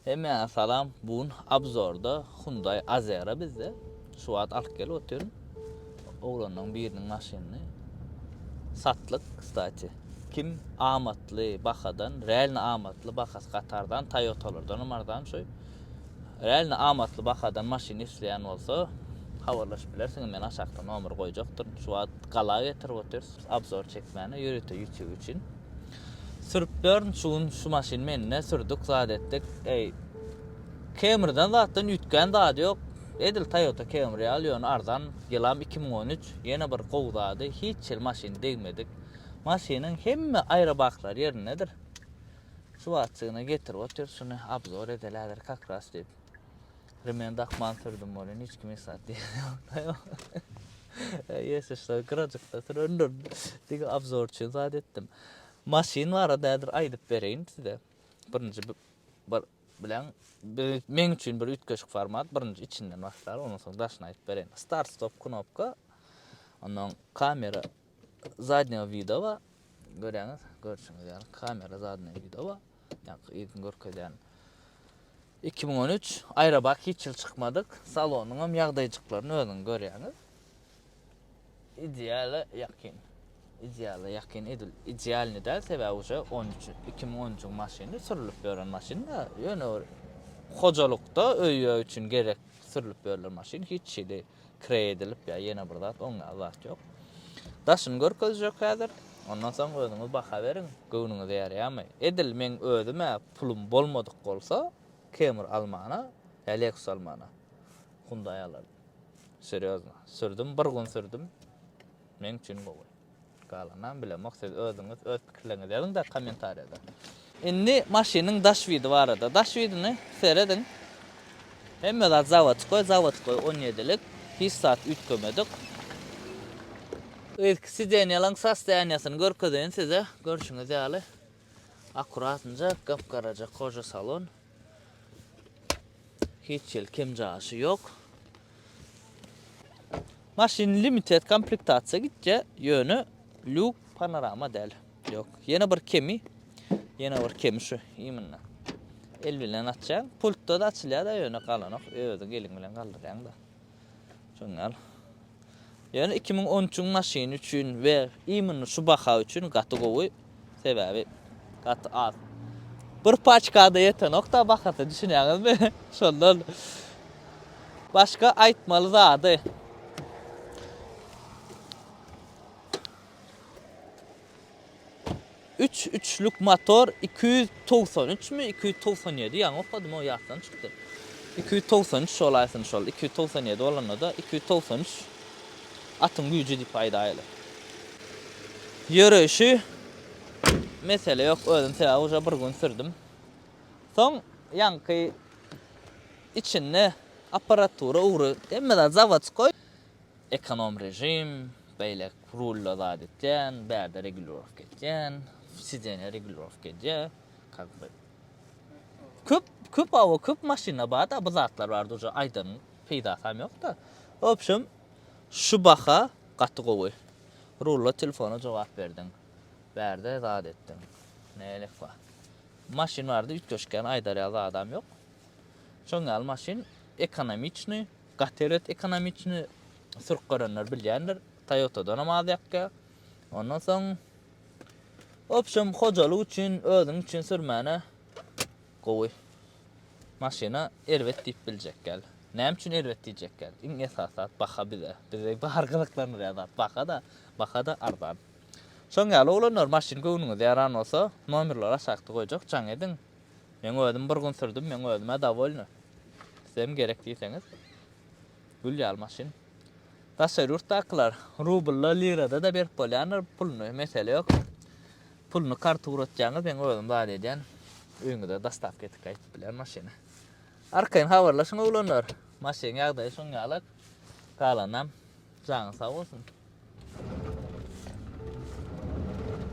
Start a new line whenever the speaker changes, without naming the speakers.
Hemmäňe salam bu gün abzorda Hyundai Azera bizde şu wagt alyp gelip otyryn oglanlaryň biriniň maşynyny satlyk kstati kim amatly bahadan realno amatly bahasy gaty arzan Toyotalardanam arzan şu realno amatly bahadan maşyn isleýän bolsa habarlaşyp bilersiňiz men aşakda nomer goýjakdyryn şu wagt gala getirip otyrys abzor çekmäne ýörite ýutube üçin. Sürüp bern şu gün şu maşyn mende sürdük zat etdik eý Camrydan zatdan üýtgän zady ýok edil Toyota Camry ýaly ýöne arzan ýylam iki müň on üç ýene bir gowy zady hiç hili maşyny degmedik maşynyň hemme aýrybaklary ýerindedir şu wagtjygyna getirip otyr şuny abzor edelädir kakras diýip Remen dakman sürdüm bolin hiç kim esat diýen ýokda ýok. Ýese şular gyrajykda sürendir. Diňe obzor üçin zat etdim. Maşyn barada häzir aýdyp bereýin size. Birinji bir bilen bir men üçin bir üýtgeşik format. Birinji içinden başlar, ondan soň daşyny aýdyp bereýin. Start stop knopka. Ondan kamera zadnýego widowa görýäňiz, görşüňiz ýaly kamera zadnýego widowa, ýaňky ilkin görkezýän 2013 Aýrabak hiç ýyl çykmadyk, salonyň hem ýagdaýjyklaryny özüňiz görýäňiz. Ideale ýakyn. Ideale ýakyn edil idealny däl, sebäbi uje 13 2013-iň maşyny sürülip ýören maşyn da, ýöne bir hojalykda öý-ýe üçin gerek sürülip ýörlen maşyn hiç hili kre edilip ýa ýene bir zat oň ýaly zat ýok. Daşyny görkezjek häzir. Ondan soň özüňiz baha beriň, göwnüňize ýaraýamy. Edil meň özüm-ä pulum bolmadyk bolsa, Camry almana, ýa Lexus almana Hyundai alardym. Serýozno. Sürdüm, bir gün sürdüm. Meň üçin gowy. Galanam bilemok siz özüňiz öz pikirleriňizi ýazyňda kommentariýada. Indi maşynyň daş widi barada. Daş widini serediň. Hemme zat zawodskoý, zawodskoý on ýedilik. Hiç zat üýtgemedik. Yzky sidenýalaň sostoýaniýasyny görkezeýin size. Görşüňiz ýaly, akuratnjak, gap-garaja koja salon. Hiç ýel kem jaşy ýok. Maşyn limited komplektasiýa gitje, ýöne lýuk panorama däl. Ýok. Ýene bir kemi. Ýene bir kemi şu imynda. El bilen açýaň. Pultda da açylýar da ýöne galanok. Özi gelin bilen galdyrýaň da. Şondan. Ýöne iki müň on üçüň maşyny üçin we imini şu baha üçin gaty gowy. Sebäbi gaty az. Bir paçkada ýetenok-da bahasy, düşünýäňizmi? Şondan. Başga aýtmaly zady. Üç üçlük motor iki ýüz togsan üçmi iki ýüz togsan ýedi ýaňy okadym o ýatdan çykdy iki ýüz togsan üç olaýsyn şol iki ýüz togsan ýedi bolanda-da iki ýüz togsan üç atyň güýji diýip aýdaýly ýöreýşi mesele ýok özüm sebäbi uje bir gün sürdüm soň ýaňky içinde apparatura ugry hemme zat zawodsky. Ekonom režim, beýlek rulda zat etýän, bärde regulirovka etýän, sidenýe regulirovka edýä, kak be. Köp, köp awa, köp maşynda bar-da bu zatlar bar duja aýdan peýdasam ýok-da. Obşem, şu baha gaty gowy. Rulda telefona jogap berdiň, bärde zat etdiň. Nälik bar? Maşyn barada üýtgeşikgäni aýdarýa zadam ýok. Şoň ýaly maşyn ekonomiçnyý. Gatered ekonomiçni sürk görenler bilýändir. Toyotadanam az ýakýa. Ondan soň Wobşem hojalyk üçin, özüň üçin sürmäne gowy maşyna erbet diýip biljek ýaly. Näme üçin erbet diýjek ýaly? Iň esasy zat baha bize. Bizi bary gyzyklandyrýan zat baha-da, baha-da arzan. Şoň ýaly oglanlar maşyn göwnüňize ýaran bolsa, nomerleri aşakda goýjak, jaň ediň. Men özüm bir gün sürdüm, men özüm-ä dowolny. Sizem gerek diýseňiz, gül ýaly maşyn. Daşary ýurtdakylar rublda, lirada-da berip bolýandyr puluny, mesele ýok. Puluny karta ugratýaňyz, men özüm zat edýän, öýüňize dostawka edip gaýdyp bilýän maşyny. Arkaýyn habarlaşyň oglanlar. Maşynyň ýagdaýy şoň ýalak. Galanynam janyň sag bolsun.